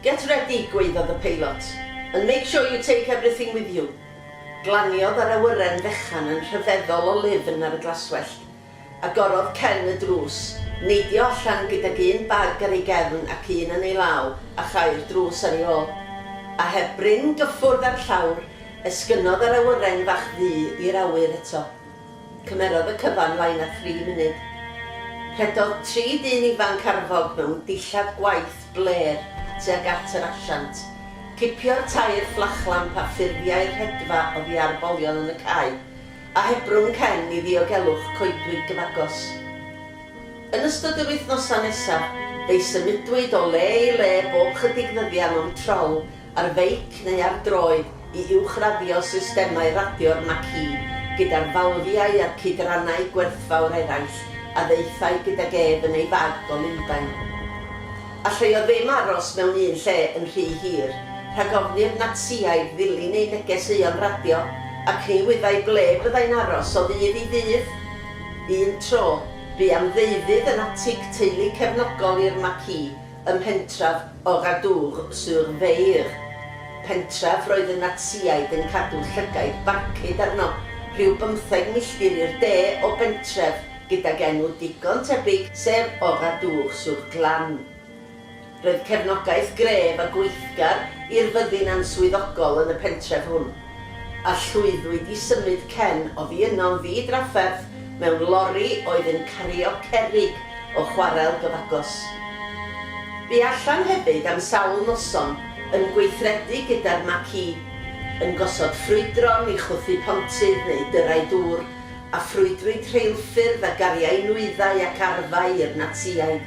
Get ready, gwaeddodd y peilot, and make sure you take everything with you. Glaniodd yr awyren fechan yn rhyfeddol o lifn ar y glaswellt. Agorodd Ken y drws, neidio allan gydag un bag ar ei gefn ac un yn ei law, a chau'r drws ar ei ôl. A heb brin gyffwrdd â'r llawr, esgynodd yr awyren fach ddu i'r awyr eto. Cymerodd y cyfan lai na thri munud. Rhedodd tri dyn ifanc arfog mewn dillad gwaith blêr tuag at yr asiant. Cipiodd tair fflachlamp a ffurfiai'r rhedfa oddi ar bolion yn y cae, a hebrwng cen i ddiogelwch coedwig gyfagos. Yn ystod yr wythnosau nesaf, fe'i symudwyd o le i le bob chydig ddyddian o'm trol ar feic neu ar droed i uwchraddio systemau radio'r Macchi gyda'r falfiau a'r cydrannau gwerthfawr eraill a ddaethai gydag ef yn ei fag o Lundain. Allai o ddim aros mewn un lle yn rhy hir, rhag ofni'r Natsïaid ddilyn ei neges euog radio, ac ni wyddai ble byddai'n aros o ddydd i ddydd. Un tro, bu am ddeuddydd yn atig teulu cefnogol i'r Macchi ym mhentref Oradour-sur-Veire, pentref roedd y Natsïaid yn cadw llygaid barcud arno, rhyw bymtheg milltir i'r de o bentref gydag enw digon tebyg, sef Oradour-sur-Glane. Roedd cefnogaeth gref a gweithgar i'r fyddin answyddogol yn y pentref hwn. a llwyddwyd i symud Ken oddi yno'n ddi-drafferth mewn lori oedd yn cario cerrig o chwarel gyfagos. Bu allan hefyd am sawl noson yn gweithredu gyda'r Maki, yn gosod ffrwydron i chwythu pontydd neu dyrrau dŵr, a ffrwydrwyd rheilffyrdd a gariai nwyddau ac arfau i'r Natsïaid.